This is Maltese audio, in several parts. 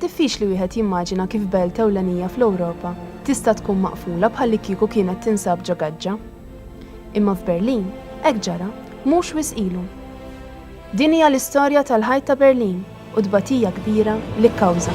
Diffiċli wieħed jimmaġina kif belt ewlenija fl-Ewropa tista' tkun maqfula bħallikieku kienet tinsab ġo gaġġa. Imma f'Berlin hekk ġara mhux wisq ilu. Din hija l-istorja tal-ħajt ta' Berlin u t-tbatija kbira li kkawża.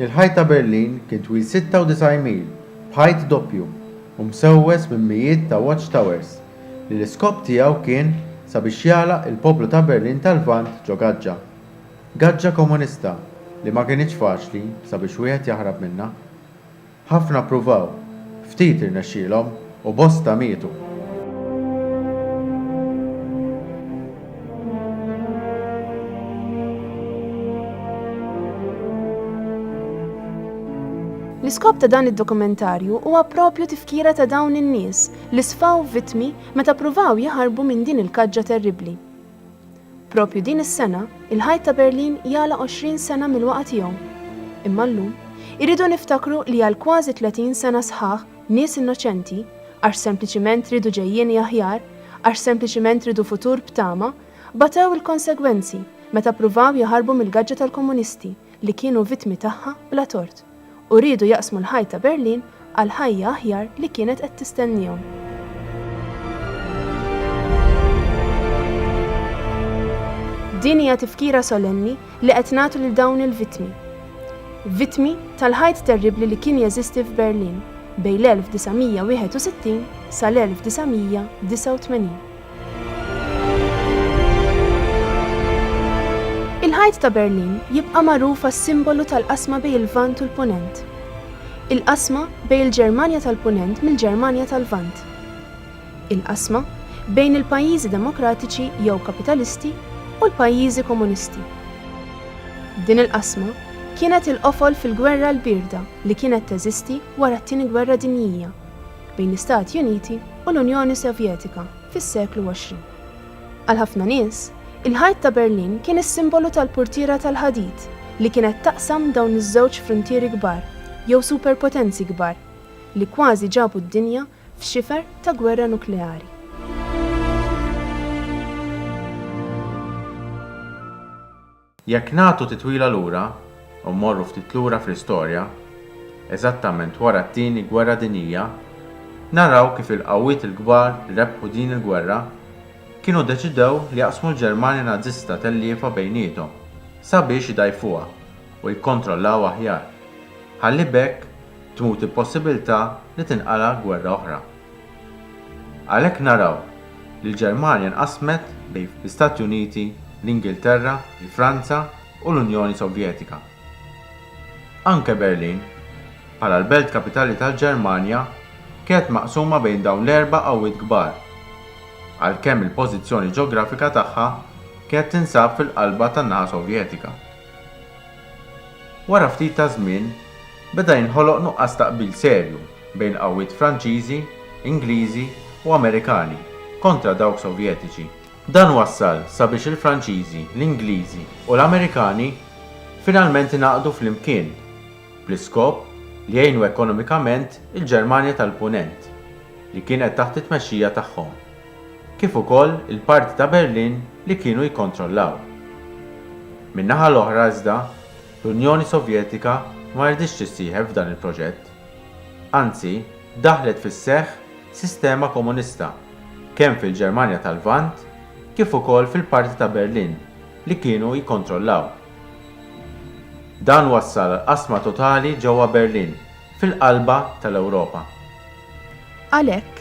Il-ħajt ta' Berlin kien twil 96 mil, b'ħajt doppju, u msewwes minn mijiet ta' watch towers, li l-iskop tiegħu kien sabiex jagħlaq il-poplu ta' Berlin tal-Lvant ġo gaġġa. Gaġġa komunista li ma kinitx faċli sabiex wieħed jaħrab minnha. Ħafna ppruvaw, ftit irnexxielhom u bosta mietu. L-iskop ta' dan id-dokumentarju huwa proprju tifkira ta' dawn in-nies li sfaw vittmi meta ppruvaw jaħarbu minn din il-kaġġa terribbli. Proprju din is-sena, il-Ħajt ta' Berlin jagħlaq 20 sena mill-waqgħa tiegħu. Imma llum, irridu niftakru li għal kważi 30 sena sħaħ nies innoċenti, għax sempliċiment riedu ġejjieni aħjar, għax sempliċiment riedu futur b'tama, batew il-konsegwenzi meta ppruvaw jaħarbu mill-gaġġa tal-komunisti li kienu vittmi tagħha bla tort. u riedu jaqsmu l-ħajt ta' Berlin għal ħajja aħjar li kienet qed tistenniehom. Din hija tifkira solenni li qed nagħtu lil dawn il-vittmi. Vittmi tal-ħajt terribbli li kien jeżisti f'Berlin bejn l-1961 sal-1989. Il-Ħajt ta' Berlin jibqa' magħruf għas-simbolu tal-qasma bejn il-Lvant u l-Punent. Il-qasma bejn il-Ġermanja tal-Punent mill-Ġermanja tal-Lvant. Il-qasma bejn il-pajjiżi demokratiċi jew kapitalisti u l-pajjiżi komunisti. Din il-qasma kienet il-qofol fil-Gwerra l-Bierda li kienet teżisti wara t-Tieni Gwerra Dinjija. bejn l-Istati Uniti u l-Unjoni Sovjetika fis-seklu 20. Għal ħafna nies, il-Ħajt ta' Berlin kien is-simbolu tal-purtiera tal-ħadid li kienet taqsam dawn iż-żewġ fruntieri kbar, jew superpotenzi kbar, li kważi ġabu d-dinja f'xifer ta' gwerra nukleari. Jekk nagħtu titwila lura u mmorru ftit lura fl-istorja, eżattament wara t-Tieni Gwerra Dinjija, naraw kif il-qawwiet il-kbar li rebħu din il-gwerra kienu deċidew li jaqsmu l-Ġermanja Nażista telliefa bejniethom sabiex idgħajfuha u jikkontrollawha aħjar, ħalli b'hekk tmut il-possibilità li tinqala' gwerra oħra. Għalhekk naraw li l-Ġermanja nqasmet bejn l-Istati Uniti, l-Ingilterra, il-Franza u l-Unjoni Sovjetika. Anke Berlin, bħala l-belt kapitali tal-Ġermanja, kienet maqsuma bejn dawn l-erba' qawwiet kbar, għalkemm il-pożizzjoni ġeografika tagħha kienet tinsab fil-qalba tan-naħa Sovjetika. Wara ftit ta' żmien, beda jinħoloq nuqqas ta' qbil serju bejn qawwiet Franċiżi, Ingliżi u Amerikani kontra dawk Sovjetiċi. Dan wassal sabiex il-Franċiżi, l-Ingliżi u l-Amerikani finalment ingħaqdu flimkien bl-iskop li jgħinu ekonomikament il-Ġermanja tal-Punent li kienet taħt it-tmexxija tagħhom. kif ukoll il-parti ta' Berlin li kienu jikkontrollaw. Min-naħa l-oħra iżda, l-Unjoni Sovjetika ma riditx tissieħeb f'dan il-proġett. Anzi, daħlet fis-seħħ sistema komunista kemm fil-Ġermanja tal-Lvant kif ukoll fil-parti ta' Berlin li kienu jikkontrollaw. Dan wassal għall-qasma totali ġewwa Berlin. fil-qalba tal-Ewropa. Għalhekk,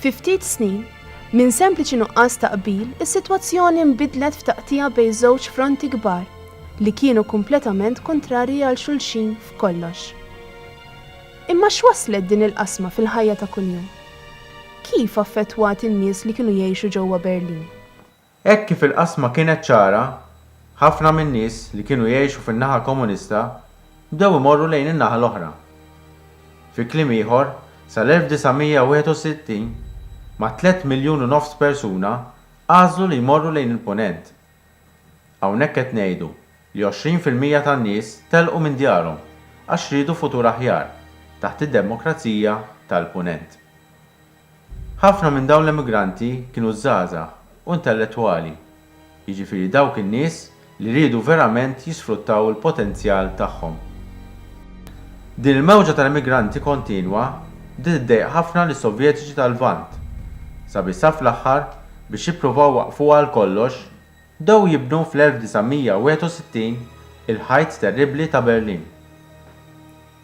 fi ftit snin, minn sempliċi nuqqas ta' qbil is-sitwazzjoni nbidlet f'taqtigħa bejn żewġ fronti kbar li kienu kompletament kuntrarji għal xulxin f'kollox. Imma x'wasslet din il-qasma fil-ħajja ta' kuljum? Kif affettwat in-nies li kienu jgħixu ġewwa Berlin? Hekk kif il-qasma kienet ċara, ħafna min-nies li kienu jgħixu fin-naħa Komunista bdew imorru lejn in-naħa l-oħra. Fi kliem ieħor, sal-1961, ma' tliet miljun u nofs persuna għażlu li jmorru lejn il-Punent. Hawnhekk qed ngħidu li għoxrin fil-mija tan-nies telqu minn djarhom għax riedu futur aħjar taħt id-demokrazija tal-Punent. Ħafna minn dawn l-emigranti kienu żgħażagħ u intellettwali, jiġifieri dawk in-nies li riedu verament jisfruttaw il-potenzjal tagħhom. Din il-mewġa tal-emigranti kontinwa bdiet iddejjaq ħafna lis-Sovjetiċi tal-Lvant, sabiex sa fl-aħħar, biex jippruvaw iwaqqfuha għal kollox, bdew jibnu fl-1961 il-ħajt terribbli ta' Berlin.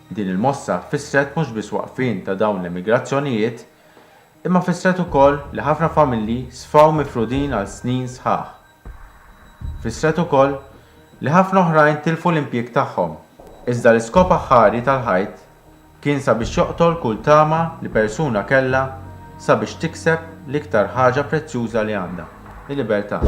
Din il-mossa fissret mhux biss waqfien ta' dawn l-emigrazzjonijiet, imma fissret ukoll li ħafna familji sfaw mifrudin għal snin sħaħ. Fissret ukoll li ħafna oħrajn tilfu l-impjieg tagħhom. Iżda l-iskop aħħari tal-ħajt kien sabiex joqtol kull tama li persuna kellha sabiex tikseb l-iktar ħaġa prezzjuża li għandha. il-libertà.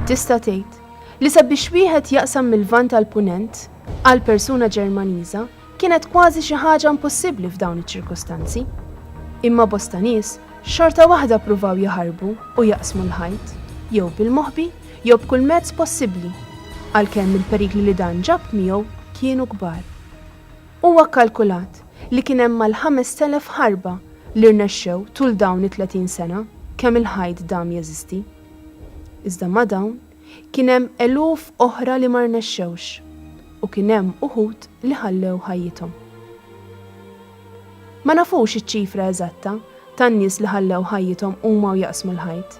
Tista' tgħid li sabiex wieħed jaqsam mill-Lvant għall-Punent għal persuna Ġermaniża kienet kważi xi ħaġa impossibbli f'dawn iċ-ċirkustanzi. Imma bosta nies xorta waħda pruvaw jaħarbu u jaqsmu l-ħajt, jew bil-moħbi jew b'kull mezz possibbli, għalkemm il-perikli li dan ġab miegħu kienu kbar. Huwa kkalkulat li kien hemm mal-5,000 ħarba li rnexxew tul dawn it-30 sena kemm il-ħajt dam jeżisti. Iżda ma' dawn, kien hemm eluf oħra li ma rnexxewx u kien hemm uħud li ħallew ħajjithom. Ma nafux iċ-ċifra eżatta tan-nies li ħallew ħajjithom huma u jaqsmu l-ħajt.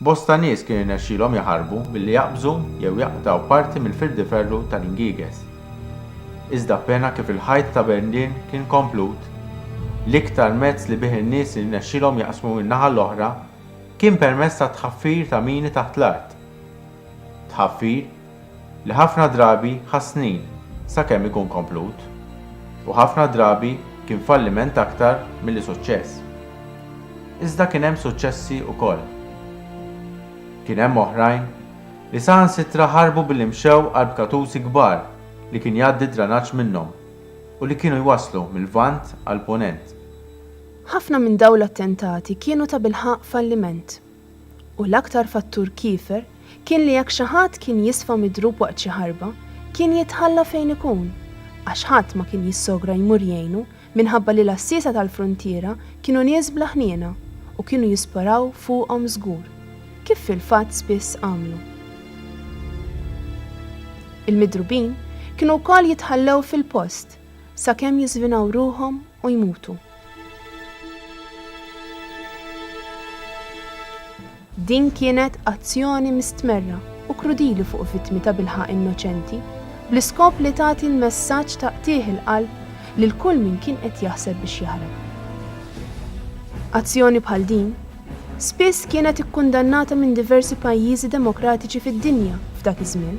Bosta nies kien irnexxielhom jaħarbu billi jaqbżu jew jaqtgħu parti mill-firdiferru tal-ingieges. Iżda appena kif il-ħajt ta' Berlin kien komplut, l-iktar mezz li bih in-nies irnexxielhom jaqsmu min-naħa l-oħra kien permezz tat-tħaffir ta' mini taħt l-art. Tħaffir li ħafna drabi ħa snin sakemm ikun komplut, u ħafna drabi kien falliment aktar milli suċċess. Iżda kien hemm suċċessi wkoll. Kien hemm oħrajn li saħansitra ħarbu billi mxew għal bkatusi kbar li kien jgħaddi d-dranaġġ minnhom u li kienu jwasslu mil-Lvant għall-Punent. Ħafna minn dawn l-attentati kienu tabilħaqq falliment. U l-aktar fattur kiefer kien li jekk xi ħadd kien jisfa midrub waqt xi ħarba, kien jitħalla fejn ikun, għax ħadd ma kien jissogra jmur jgħinu minħabba li l-għassiesa tal-fruntiera kienu nies bla ħniena u kienu jisparaw fuqhom żgur, kif fil-fatt spiss għamlu. Il-midrubin kienu wkoll jitħallew fil-post sakemm jiżvinaw ruħhom u jmutu. Din kienet azzjoni mistmerra u krudili fuq vittmi tabilħaqq innoċenti, bl-iskop li tagħti l-messaġġ ta' qtigħ il-qalb lil kull min kien qed jaħseb biex jaħrab. Azzjoni bħal din Spiss kienet ikkundannata minn diversi pajjiżi demokratiċi fid-dinja f'dak iż-żmien,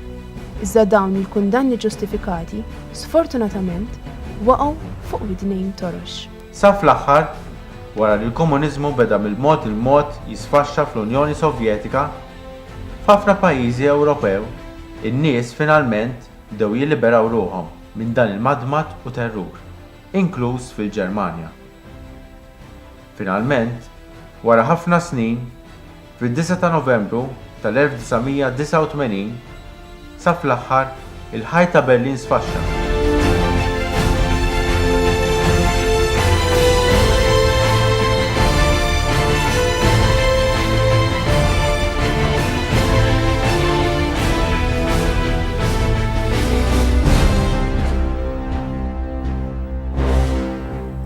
iżda dawn il-kundanni ġustifikati, sfortunatament, waqgħu fuq widnejn torox. Sa fl-aħħar, wara li l-komuniżmu beda mill-mod il-mod jisfaxxa fl-Unjoni Sovjetika, f'ħafna pajjiżi Ewropew in-nies finalment bdew jilliberaw ruħhom minn dan il-madmad u terrur, inkluż fil-Ġermanja. Finalment, wara ħafna snin, fid-disgħa ta' Novembru tal-1989, sa fl-aħħar, il-ħajt ta' Berlin sfaxxa.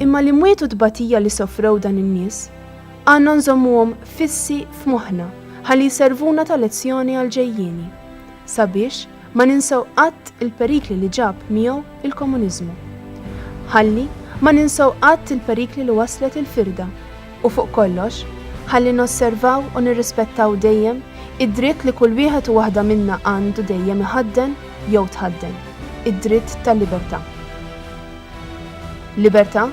Imma l-imwiet u tbatija li sofrew dan in-nies għandna nżommuhom fissi f'moħħna ħalli jservuna ta' lezzjoni għall-ġejjieni, sabiex ma ninsew qatt il-perikli li ġab miegħu l-komuniżmu. Ħalli ma ninsew qatt il-perikli li wasslet il-firda u fuq kollox, ħalli nosservaw u nirrispettaw dejjem id-dritt li kull wieħed u waħda minna għandu dejjem iħadden jew tħadden, id-dritt tal-libertà. Libertà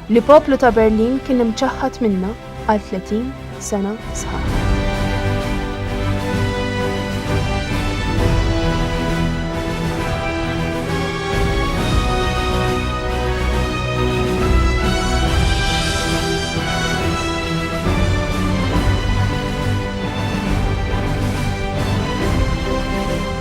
li poplu ta' Berlin kien imċaħħad minnha għal 30 sena sħaħ.